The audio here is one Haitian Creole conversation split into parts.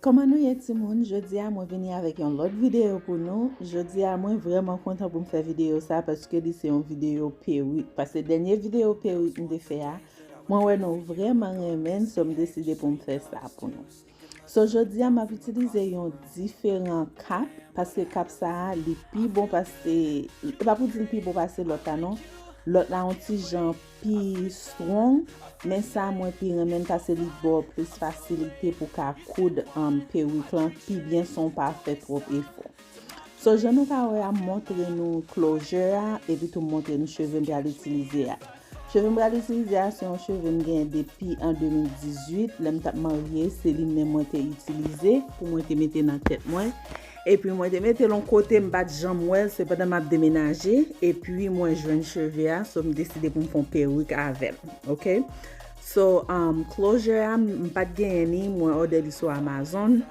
Kòman nou ye ti moun, jodi a mwen vini avèk yon lòt videyo pou nou, jodi a mwen vreman kontan pou m fè videyo sa paske li se yon videyo perik, paske dènye videyo perik m te fè a, mwen wè nou vreman renmen l, so m deside pou m fè sa pou nou. So jodi a map itilize yon diferan kap, paske kap sa a li pi bon pase, e pa pou di li pi bon pase lòt la non, lòt la yon ti jan pi strong, men sa a mwen pi renmen l pase li ba w plis fasilite pou ka koud peruk lan pi byen san w pa fè twòp efò. So jan nou ka wè a m montre nou klojè a epi tou m montre nou cheve m pral itilize a. Cheve m pral itilize a se yon cheve m genyen depi an 2018 lè m t ap marye se li menm mwen te itilize pou mwen te mete nan tèt mwen epi mwen te mete l yon kote m pat janm wè l se pandan m ap demenaje epi mwen jwenn cheve a so m deside pou m fon perik avè l ok so klojè a m pat genyen li mwen òdè li sou amazon.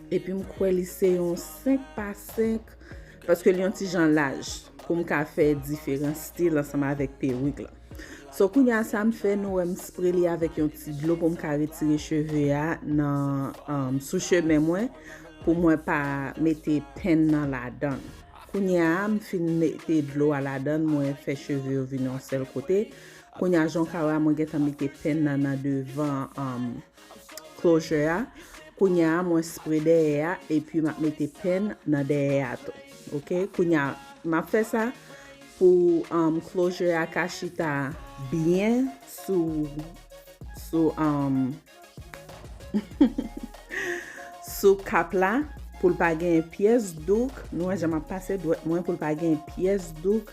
Epi m kwè li se yon 5 pa 5 paske li yon ti jan laj pou m ka fè diferan stil ansanm avèk perik lan. So kounye a sa m fè nou wè m spre li avèk yon ti dlo pou m ka retire cheve a nan sou chemen mwen pou mwen pa mete pen nan ladan. Kounye a m fin mete dlo a ladan mwen fè cheve yo vin yon sèl kote. Kounye a jan w ka wè a mwen gentan mete pen nan nan devan. closure a kounya mwen spre dèyè a epi map mete pen nan dèyè a tou ok kounya map fè sa pou um, closure a ka chita byen sou sou um, sou kap la poul pa gen pyès douk nou wè jan map pase dwèt mwen poul pa gen pyès douk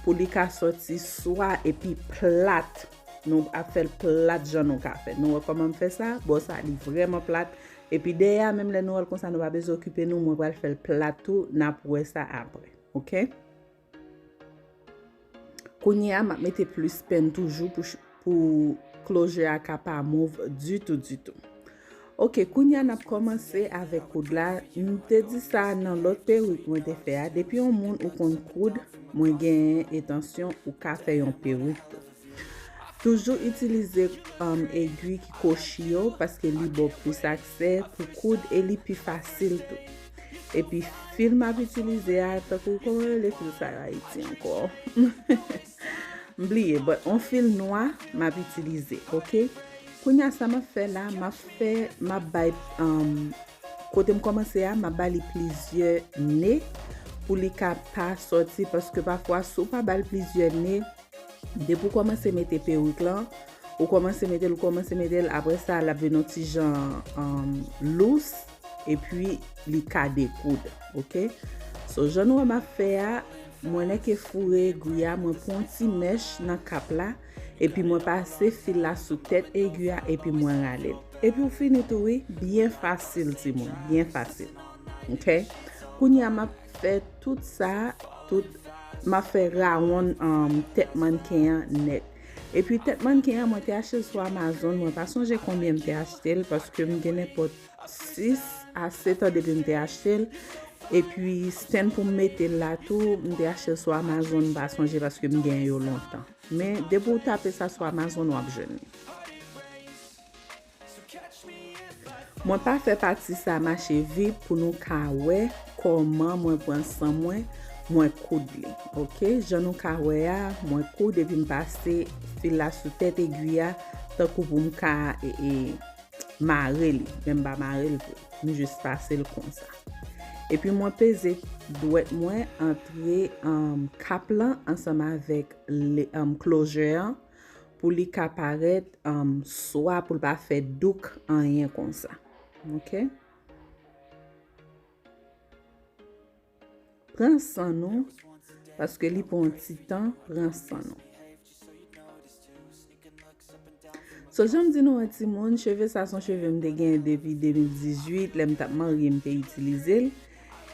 pou li ka soti swa epi plat Nou ap fèl plat jan nou ka fè. Nou wè kòman m fè sa? Bò sa li vrèman plat. Epi dèyè a menm lè nou wè l konsa nou pa bezwen okipe nou. Mwen pral fèl plat tou. N ap wè sa apre. Ok? Kounye a m ap mete plis pen toujou pou closure a ka pa move ditou ditou. Ok kounya nap kòmanse avèk koud la m te di sa nan lòt perik mwen te fè a depi yon moun ou konn koud mwen genyen etansyon ou ka fè yon perik tou toujou itilize egui ki kochi yo paske li ba w plis aksè pou koud e li pi fasil tou epi fil map itilize a tankou kòman yo rele fil sa yo ayiti ankò M bliye but on fil nwa map itilize ok kounya sa map fè la map fè map bay kotem kòmanse a map bali plizyè ne pou li ka pa sòti paske pafwa sou pa bal plizyè ne depi ou kòmanse mete perik lan ou kòmanse metel ou kòmanse metel aprè sa lap vin yon ti jan lous. Epi li ka dekoud ok. So jan nou wè map fè a mwen lèke foure egwi a mwen pran yon ti mèch nan kap la epi mwen pase fil la sou tèt egwi a epi mwen ralel epiw fini tou wi byen fasil timoun byen fasil ok kounya map fè tout sa tout map fè rawonn tèt mannken an nèt epi tèt mannken an mwen te achetel sou amazon mwen pa sonje konbyen mte achtel paskem gen nenpòt 6 a 7 an depi m te achte l epi stand pou m mete l la tou m te achte l sou Amazon m pa sonje paske m gen yo lontan men depi w tape sa sou Amazon w ap jwenn li Mwen pa fè pati sa mache vit pou nou ka wè kòman mwen pran san mwen mwen koud li ok jan nou ka wè a mwen koud epi m pase fil la sou tèt egwi a tankou pou m ka Mare li, men m pa mare l vre. M jis pase l konsa. Epi mwen peze dwèt mwen antre kap lan ansanm avèk klojè an pou li ka parèt swa pou l pa fè douk anyen konsa. Ok. Pran san nou paske li pran yon ti tan pran san nou. So janm di nou an ti moun, cheve sa son cheve m te gen depi 2018, lè m tap marye m te itilize l.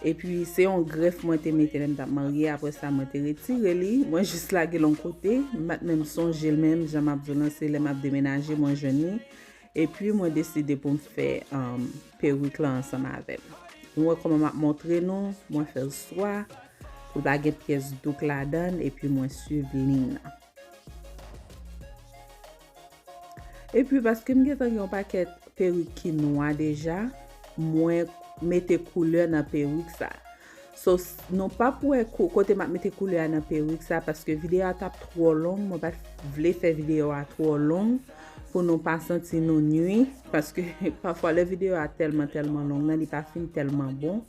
E pi se yon gref mwen te mete lè m tap marye, apre sa mwen te retire li, mwen jis lage l yon kote, m pat menm sonje l menm, jan map di w lan se lè map demenaje mwen jwenn li, Epi mwen deside pou m fè perik lan ansanm avè l. Nou wè kòman m ap montre nou, mwen fè l swa pou l pa gen pyès dout ladan l epi mwen swiv liy nan. Epi paske m gen tan gen yon pakèt perik ki nwa deja, mwen mete koulè nan perik sa. So nou pap wè kote map mete koulè a nan perik sa paske video a tap twò long mwen pat vle fè video a twò long pou nou pa santi nou nwi paske pafwa lè video a tèlman tèlman long nan li pa fin tèlman bon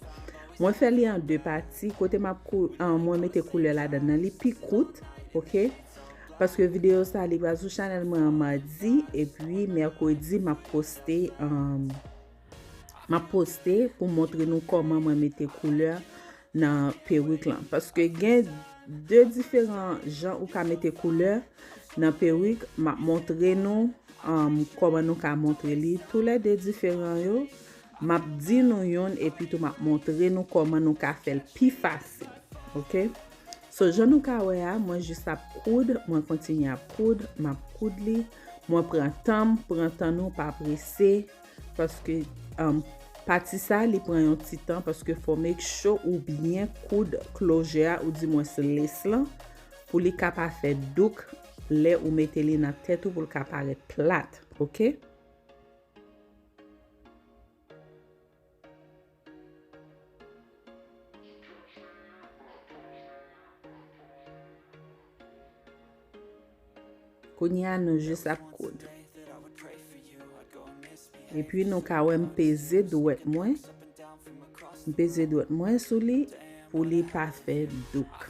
mwen fè li an 2 pati kote map kou an mwen mete koulè la dan nan li pi kout ok paske video sa li pral sou chanel mwen an madi epi mèkredi map poste an Map poste pou montre nou koman mwen mete koulè nan perik lan. Paske gen 2 diferan jan ou ka mete koulè nan perik. Map montre nou koman nou ka montre li. Tou le 2 diferan yo. Map di nou yon epi tou map montre nou koman nou ka fel pi fasil. Ok. So jan nou ka we a mwen jis ap koud. Mwen kontinye ap koud. Map koud li. Mwen pran tanm. Pran tan nou pa prese. Paske pati sa li pran yon ti tan paske fò make sure ou byen koud closure a ou di mwens lace lan pou li ka pa fè douk lè ou mete li nan tèt ou poul ka parèt plat ok. Kounye a nou jis ap koud. Epi nou ka wè m peze dwèt mwen. M peze dwèt mwen sou li pou li pa fè douk.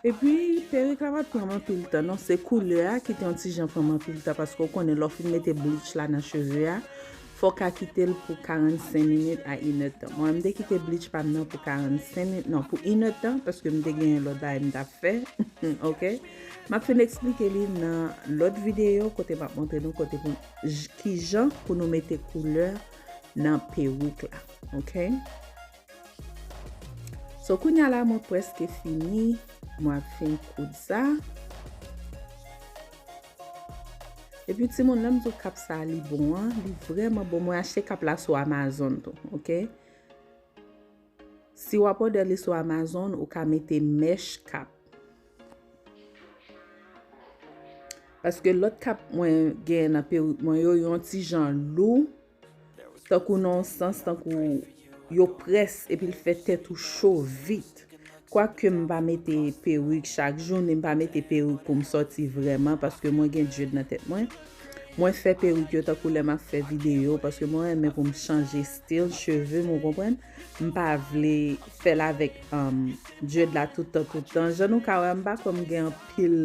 Epi perik la pat pranm anpil tan non se koulè a ki te yon ti jan pranm anpil tan paske ou konnen lè ou fin mete bleach la nan cheve a fò ka kitel pou 45 minit a inè tan mwen m te kite bleach pam nan pou 45 minit non pou inè tan paske m te genyen lòt bagay m tap fè ok map fin eksplike li nan lòt videyo kote map montre nou kote pou kijan pou nou mete koulè nan perik la ok. So kounya la mwen preske fini mwen ap fin koud sa. E pi ti moun lèm zo kap sa li bon an, li vreman bon mwen achte kap la sou Amazon tou, ok. Si wap odè li sou Amazon ou ka mete mèch kap. Paske lòt kap mwen gen nan perik mwen yo yon ti jan lou. Tankou nan yon sans tankou yo près epi l fè tèt ou cho vit. Kwake m pa mete perik chak jou ni m pa mete perik pou m sòti vrèman paske mwen gen dread nan tèt mwen. Mwen fè perik yo tankou lè m ap fè videyo paske mwen renmen pou m chanje stil cheve m ou konprann. M pa vle fè l avèk dread la tout tan tout tan. Jan nou ka wè m pa kwè m gen anpil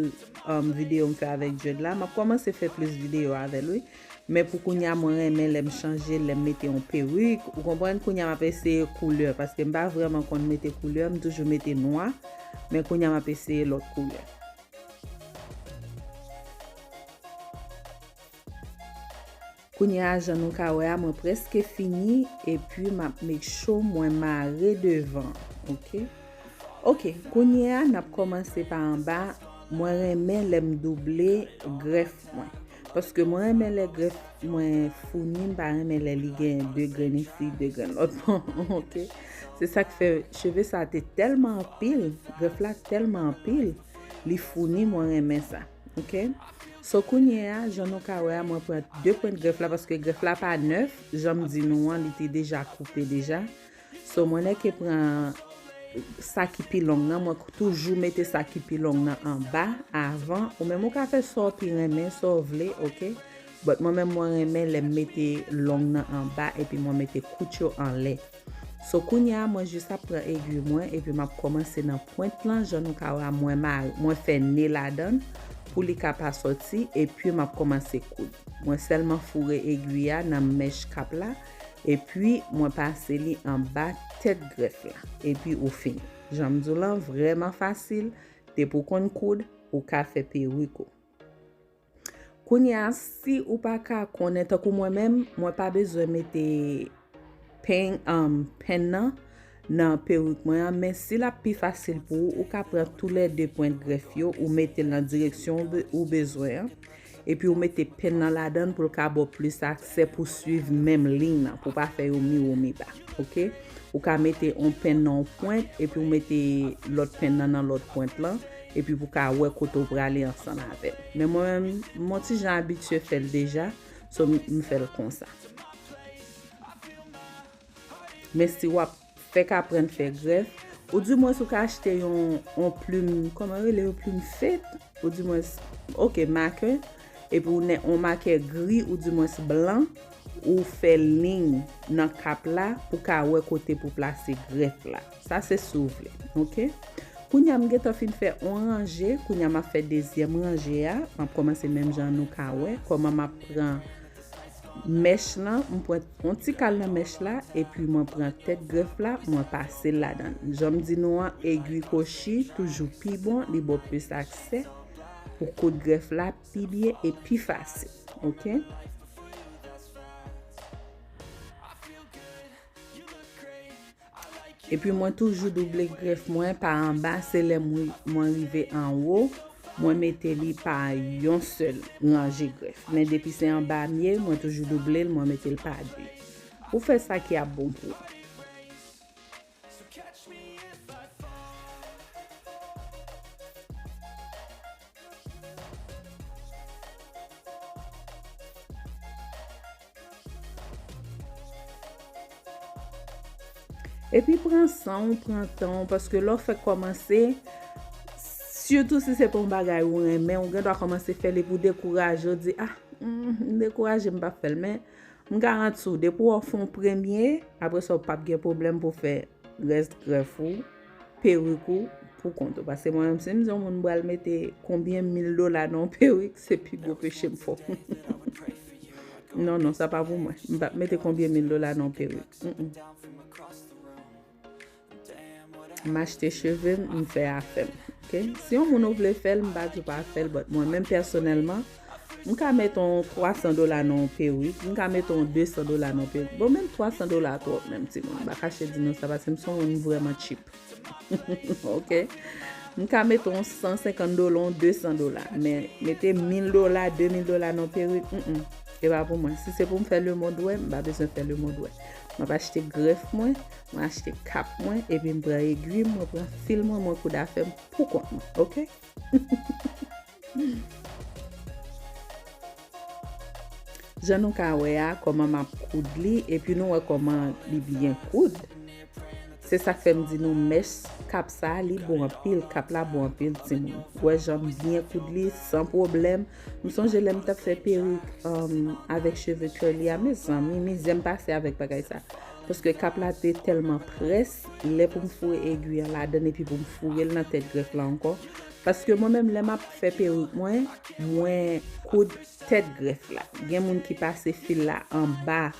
videyo m fè avèk dread la. M ap kòmanse fè plis videyo avè l wi. Men pou kounya mwen renmen lèm chanje, lèm mete yon perik, ou konprann kounya map eseye koulè paske m pa vrèman konn mete koulè, m toujou mete nwa, men kounya map eseye lòt koulè. Kounya jan nou ka wè a mwen preske fini epi map make sure mwen mare devan ok. Ok kounya nap kòmanse pa anba, mwen renmen lèm double grèf mwen. Paske mwen renmen lè grèf mwen founi, m pa renmen lè li gen 2 grenn isi, 2 grenn lòt bò, ok. Se sa k fè cheve sa te tèlman anpil, grèf la tèlman anpil, li founi mwen renmen sa, ok. So kounye a, jan nou ka wè a, mwen pran 2 pwent grèf la, paske grèf la pa nèf, jan m di nou an, li te deja koupe deja. So mwen nèke pran sa ki pi long nan mwen toujou mete sa ki pi long nan anba avan ou menm ou ka fè sa ou pi renmen sa ou vle ok but mwen menm mwen renmen lè m mete long nan anba epi mwen mete kout yo anlè so kounya mwen jis ap pran egui mwen epi map kòmanse nan pwent lan jan nou ka wè a mwen mare mwen fè ne ladan pou li ka pa sòti epi map kòmanse koud mwen sèlman foure egui a nan mèch kap la. epi mwen pase li anba tèt grèf la epi ou fini janm diw lan vrèman fasil depi ou konn koud ou ka fè perik ou kounya si ou pa ka konnen tankou mwen menm mwen pa bezwen mete peny an pen nan nan perik mwen an men si lap pi fasil pou ou ou ka pran tou lè 2 pwent grèf yo ou metel nan direksyon ou bezwen an epi ou mete pen nan ladann poul ka baw plis aksè pou swiv menm liy nan pou pa fè yo miwo miba ok ou ka mete on pen nan on pwent epi ou mete lòt pen nan nan lòt pwent lan epi pou ka wè kote ou prale ansanm avèl men mwen menm m on ti jan abitye fèl deja so m fèl konsa. Men si wap fèk aprann fè grèf, ou di mwens ou ka achte yon yon plim, kòman yo rele yo plim fed, ou di mwens ok makè, epi ou nè yon makè gri ou di mwens blan, ou fè liy nan kap la pou ka wè kote pou plase grèf la. Sa se si w vle. Ok. Kounye a m gentan fin fè yon ranje, kounye a map fè dezyèm ranje a, map kòmanse menm jan nou ka wè kòman map pran mèch lan m pran yon ti kal nan mèch la epi mwen pran tèt grèf la mwen pasel ladann janm di nou an egwi kochi toujou pi bon li baw plis aksè pou koud grèf la pi byen e pi fasil ok. Epi mwen toujou double grèf mwen pa anba se lè mwen rive anwo mwen mete li pa yon sèl ranje grèf men depi se anba mye mwen toujou double l mwen mete l pa 2 pou fè sa ki ap bon pou ou. Epi pran san ou, pran tan ou, paske lè ou fèk kòmanse, sitou si se pa yon bagay ou renmen, ou gen dwa kòmanse fè l epi ou dekouraje, ou di, ah, m dekouraje, m pa fè l. Men, m garanti ou, depi ou fè yon premye, apre sa ou pap gen pwoblèm pou fè rès grèf ou. perik ou pou kont ou. Pase mwen menm si m di yon moun m pral mete konbyen mil dola nan yon perik, se pi gwo peche m fè. Non, non, sa pa pou mwen. M pa mete konbyen mil dola nan yon perik. M achte cheve m, m fè afè m. Si yon moun ou vle fè l, m pa di w pa fè l, bòt mwen menm pèsonèlman. M ka met on 300 dola nan on perik, m ka met on 200 dola nan on perik. Bon menm 300 dola twòp menm timoun. M pa kache di nou sa paske m son moun m vrèman cheap. Ok. M ka met on 150 dola, on 200 dola. Men mete 1000 dola, 2000 dola nan on perik, m m. E pa pou mwen. Si se pou m fè lemond wè, m pa bezwen fè lemond wè. M ap achte grèf mwen, mwen achte kap mwen, epi m pran egwi m, mwen pran fil mwen, mwen koud afè m pou kont mwen. Ok. Jan nou ka wè a kòman map koud li epi nou wè kòman li byen koud se sak fèm di nou mèch kap sa li bon anpil kap la bon anpil timoun wè janm byen koud li san pwoblèm m sonje lèm tap fè perik avèk cheve curly a mezanmi mizèm pase avèk bagay sa paske kap la te tèlman près lè poum foure egwi an ladann epi poum fourel nan tèt grèf la ankò Paske mwen menm lè map fè perik mwen, mwen koud tèt grèf la. Gen moun ki pase fil la anba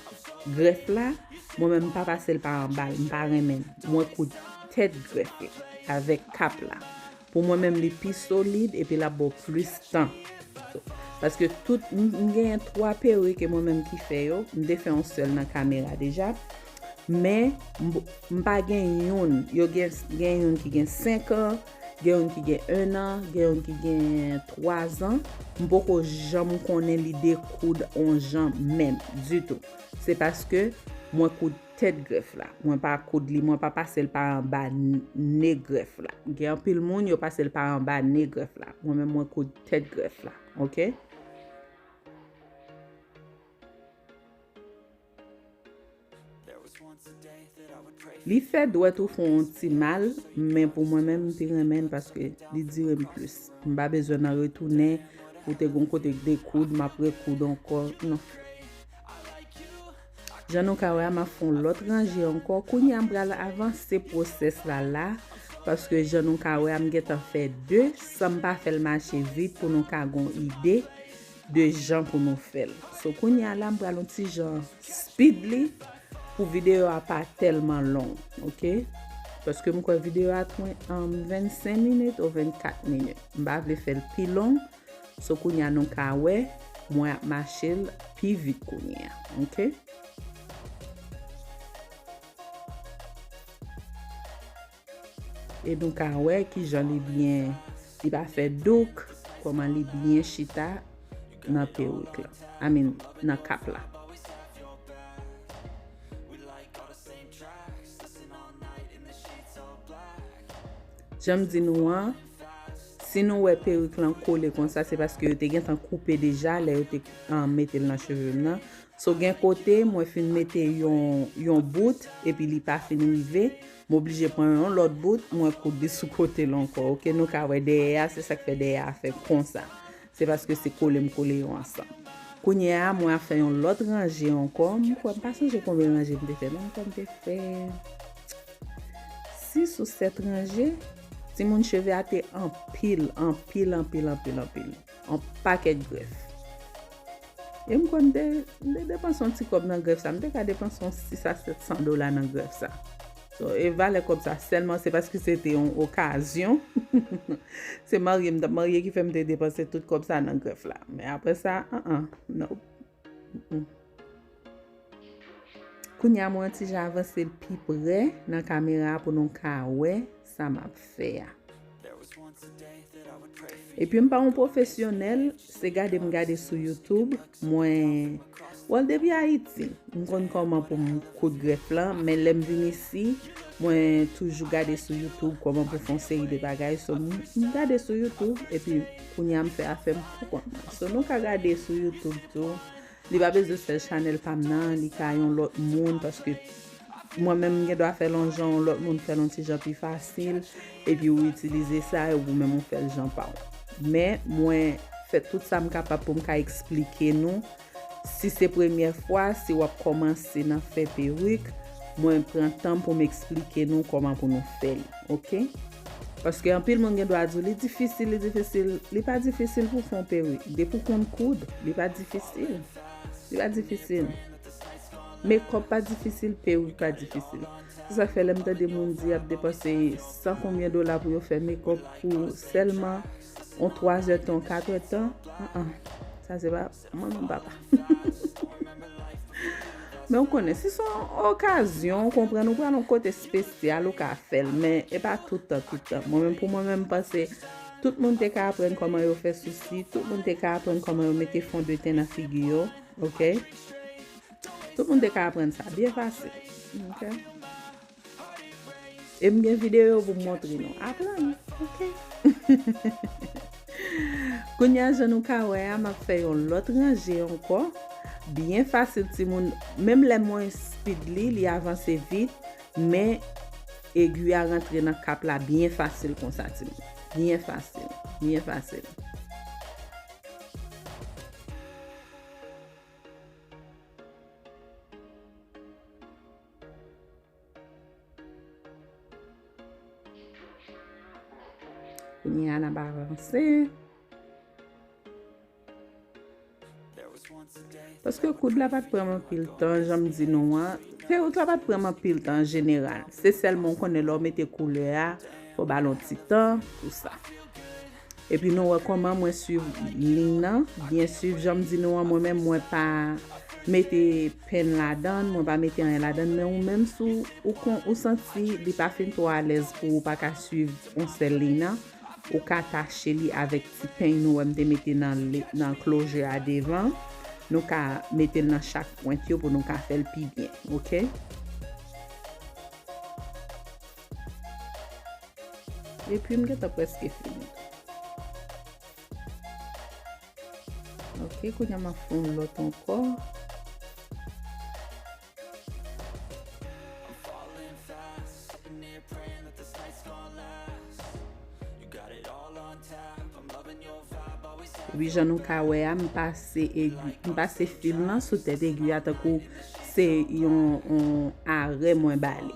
grèf la, mwen menm mpa pasel pa anbal, mpa renmenl. Mwen koud tèt grèf la avèk kap la. Pou mwen menm li pi solid epi lap baw plis tan. Paske tout, mgenyen 3 perik e mwen menm ki fè yo, mte fè yon sèl nan kamera deja. Men mpa gen youn, yo gen youn ki gen 5 an. Gen youn ki gen 1 an, gen youn ki gen 3 zan. M poko janm konnen lide koud on jan menm, ditou. Se paske mwen koud tèt grèf la. Mwen pa koud li, mwen pa pase l pa anba ne grèf la. Gen anpil moun, yo pase l pa anba ne grèf la. Mwen menm mwen koud tèt grèf la. Ok? Li fè dwèt ou fon on ti mal men pou mwen menm m pi renmen l paske li dire m plis m pa bezwen nan retounen pou te gon kote k dekoud m ap rekoud ankò nan jan nou ka wè a m ap fon lòt ranje ankò kounye a m pral avanse pwosès la la paske jan nou ka wè a m gentan fè 2 san m pa fè l mache vit pou nou ka gon ide 2 jan pou nou fèl. So kounya la m pral yon ti jan speed li pou video a pa telman long ok. Paske m kwè video a twen an 25 minit ou 24 minit. M pa vle fèl pi long. So kounya nou ka wè mwen ap machel pi vit kounya ok. E nou ka wè kijan li byen, li pa fè douk, kòman li byen chita nan perik la. I mean, nan kap la. Jan m di nou an, si nou wè perik lan kole konsa, se paske yo te gentan koupe deja lè yo te mete l nan cheve m nan. So gen kote mwen fin mete yon yon bout epi li pa fin rive, m oblije pran yon lòt bout mwen koud li sou kote l ankò ok nou ka wè dèyè a se sak fè dèyè a fè konsa se paske se kole m kole yo ansanm kounye a mwen ap fè yon lòt ranje ankò m kwè m pa sonje konbyen ranje m te fè non m kwè m te fè 6 ou 7 ranje timoun cheve a te anpil anpil anpil anpil anpil. On pakèt grèf. E m konn te depanse on ti kòb nan grèf sa. M te ka depanse on 6 a 700 dola nan grèf sa. E valè kòb sa sèlman se paske se te on okazyon. Se marye m t ap marye ki fè m te depanse tout kòb sa nan grèf la. Men apre sa, an an, nope. Kounya mwen yon ti jan avanse l pi prè nan kamera a pou nou ka wè sa m ap fè a. Epi m pa yon pwofesyonèl, se gade m gade sou YouTube, mwen wè depi Ayiti m konn kòman pou m koud grèf lan, men lè m vin isi, mwen toujou gade sou YouTube kòman pou fè yon seri de bagay, so m gade sou YouTube epi. Kounya m fè afèm pou kont mwen. So nou ka gade sou youtube tou. Li pa bezwen sèl chanèl pam nan, li ka yon lòt moun paske mwen menm m gen dwa fèl yon jan yon lòt moun fèl yon ti jan pi fasil epi ou itilize sa e ou menm ou fèl jan pa ou. Men mwen fè tout sa m kapab pou m ka eksplike nou Si se premyè fwa, si wap kòmanse nan fè perik, mwen pran tanm pou m eksplike nou kòman pou nou fè li. Ok? Paske anpil moun gen dwa di w li difisil, li difisil. Li pa difisil pou w fè yon perik. Depi w konn koud, li pa difisil. Li pa difisil. Mekòp pa difisil, perik pa difisil. Se sa k fè lè m tande moun di yap depanse san konbyen dola pou yo fè mekòp pou sèlman. On 3 zè tan, 4 zè tan, an an, sa se pa manman m papa. Men ou konnen, si son okazyon, ou konprann, ou pran nou kote spesyal, ou ka fèl, men e pa toutan, toutan. Mwen men pou mwen men m panse, tout moun te ka aprann koman yo fè sousi, tout moun te ka aprann koman yo mete fon de ten nan figi yo, ok? Tout moun te ka aprann sa, byen fasil, ok? E m gen videyo pou m montre nou. Aprann, ok? Kounye a, jan nou ka wè a, m ap fè yon lòt ranje ankò. Byen fasil timoun. Menm lè mwen speed li, li avanse vit. Men, egui a rantre nan kap la byen fasil konsa timoun. Byen fasil. Byen fasil. Kounye a nan ba avanse. Paske koud la pat pran man pil tan, janm di nou an. Perik la pat pran man pil tan an jeneral. Se sèlman w konnen lè w mete koulè a, fò w ba l yon ti tan pou sa. Epi nou wè kòman mwen swiv lign nan byen swiv janm di nou an mwen menm mwen pa mete pen ladann mwen pa mete anyen ladann men ou menm si ou kon ou santi li pa fin twò alèz pou ou pa ka swiv on sèl lign nan ou ka tache li avèk ti peny nou wè m te mete nan closure a devan nou ka metel nan chak pwent yo pou nou ka fèl pi byen ok. Epi m gentan preske fini. Ok, kounye m ap fon lòt ankò. Epi jan nou ka wè a, m pase egi, m pase fil nan sou tèt egi a tankou se yon arè mwen ba li.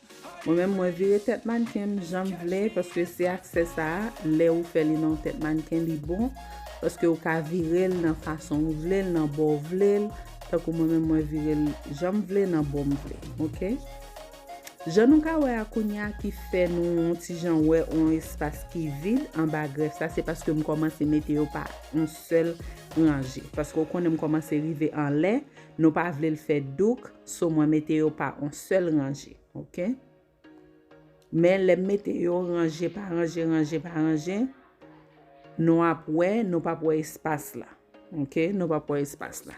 Mwen menm mwen vire tèt mannken m janm vle paske se aksè sa lè ou fè li nan yon tèt mannken li bon paske ou ka vire l nan fason ou vle l nan bò ou vle l tankou mwen menm mwen vire l janm vle nan bò m vle ok jan nou ka wè a kounya ki fè nou yon ti jan wè yon espas ki vid anba grèf sa se paske m kòmanse mete yo pa yon sèl ranje paske ou konnen m kòmanse rive anlè nou pa vle l fè douk. So mwen mete yo pa on sèl ranje. Ok. Men lè m mete yo ranje pa ranje, ranje pa ranje, nou ap wè, nou pap wè espas la. Ok, nou pap wè espas la.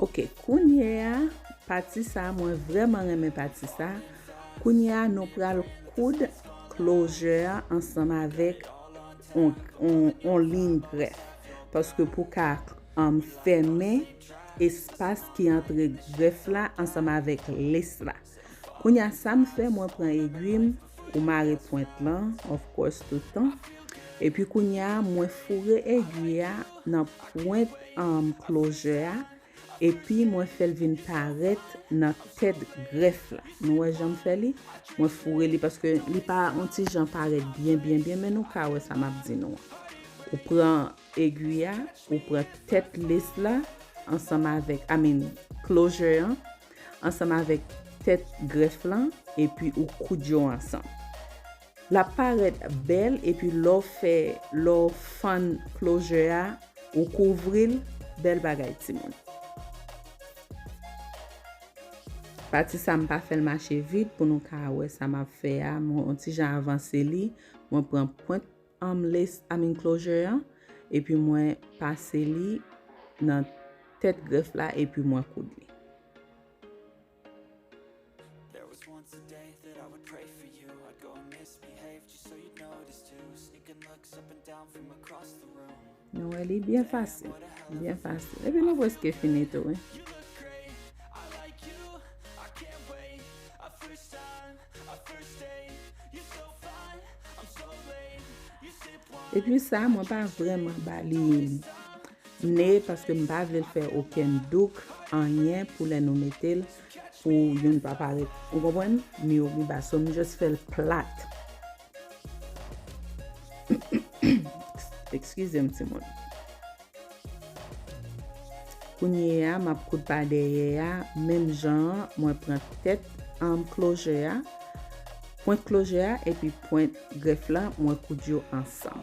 Ok kounye a pati sa mwen vreman renmen pati sa kounye a nou pral koud klozè a ansanm avèk on lin grèf paske pou ka anm fèmen espas ki antre grèf la ansanm avèk les la. Kounya sam fè mwen pran egwim ou mare pwent lan of course tout tan epi kounya mwen foure egwi a nan pwent um closure a epi mwen fèl vin parèt nan tèt grèf la nou wè janm fè li mwen foure li paske li pa on ti jan parèt byen byen byen men nou ka wè sa map di nou an ou pran egwi a ou pran tèt lace la ansanm avèk I mean closure an ansanm avèk tèt grèf lan epi ou koud yo ansanm. Lap parèt bèl epi lè w fè lè w fann closure a ou kouvri l bèl bagay timoun. Pati sa m pa fè l mache vit pou nou ka wè sa map fè a mwen on ti jan avanse li mwen pran pwent um list um enclosure an epi mwen pase li nan tèt grèf la epi mwen koud li. Nou wè li byen fasil. Byen fasil. Epi nou preske fini tou wi. Epi sa mwen pa vreman bali ne paske m pa vle l fè okenn douk anyen pou lè nou mete l pou youn pa parèt. Ou konprann? Miyobi ba. So m just fè l plat. Ekskize m ti moun. Kounye a m ap koud pa dèyè a, menm jan an mwen pran tèt anm kloje a, pwent kloje a epi pwent grèf la mwen koud yo ansanm.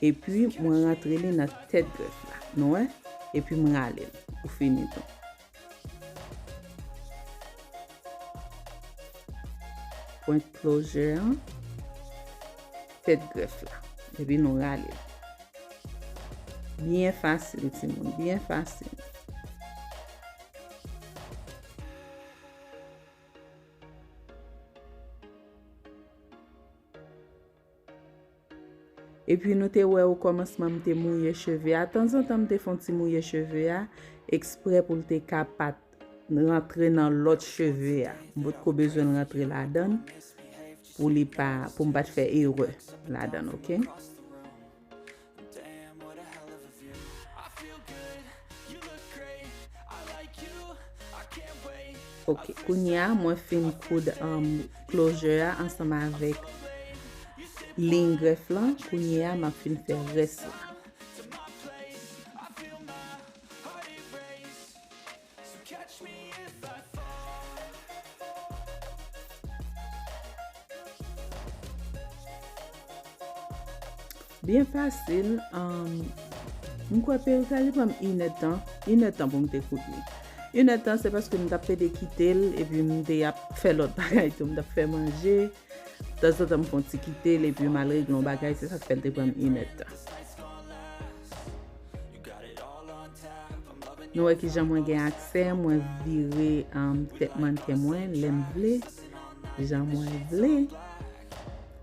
Epi mwen rantre li nan tèt grèf la. Nou wè? Epi m rale l. Ou fini tou. Pwent klozè an. Tèt grèf la. Epi nou rale l. Byen fasil ti moun. Byen fasil. Epi nou te wè okòmansman m te mouye cheve a, tanzantan m te fon ti mouye cheve a, eksprè pou l te ka pa t rantre nan lòt cheve a. M potko bezwen l rantre ladan l pou li pa, pou m pa t fè erè ladan l ok. Ok kounya mwen fin koud closure a ansanm avèk liy grèf lan kounya map fin fè rès la. Byen fasil, m kwè peri sa li pranm inè tan, inè tan pou m te koud li. Inè tan se paske m tap pede kite l, epi m te ap fè lòt bagay tou, m tap fè manje, tanzantan m fon ti kite l, epi m al regle yon bagay, se sa k fè l te pranm inè tan. Nou wè kijan mwen gen aksè, mwen vire um, tèt mannequin mwen lèm vle, jan mwen vle.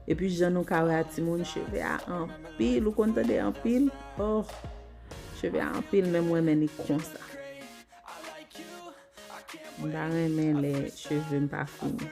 E pi jan nou ka wè a timoun cheve a anpil, ou konn tande anpil? Oh, cheve a anpil men mwen men li konsa. Mwen pa renmen lè cheve m pa fini.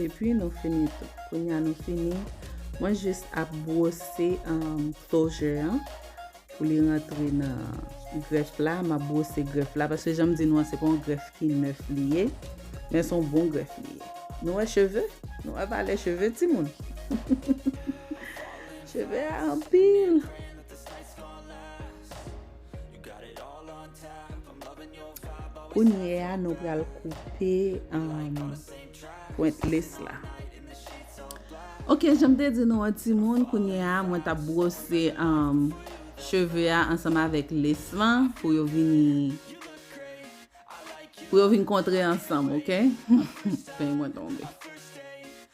Epi nou fini tou. Kounye a nou fini. Mwen jis ap bwose klozè an pou li rantre nan grèf la. M ap bwose grèf la. Paske jan m di nou an se pa yon grèf ki nèf li ye. Men se yon bon grèf li ye. Nou wè cheve? Nou wè valè cheve timoun? Cheve a anpil. Kounye a nou pral koupe pwent les la. Ok, janm te di nou an ti moun, kounye a mwen tap bwose um, cheve a ansanm avèk les lan pou yo vini pou yo vin kontre ansanm, ok? Peny mwen tonbe.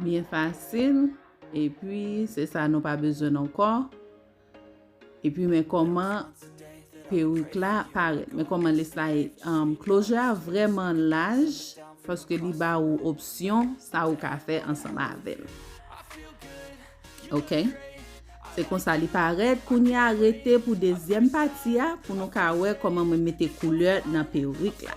Byen fasil, epi se sa nou pa bezwen non kò. Epi men kòman perik la parèt. Men kòman list la e. Klojè a vreman laj, paske li ba ou opsyon sa ou ka fè ansanm avèl. Ok? Se konsa li parèt, kounye a rete pou dezyèm pati a, pou nou ka wè kòman mwen mete koulè nan perik la.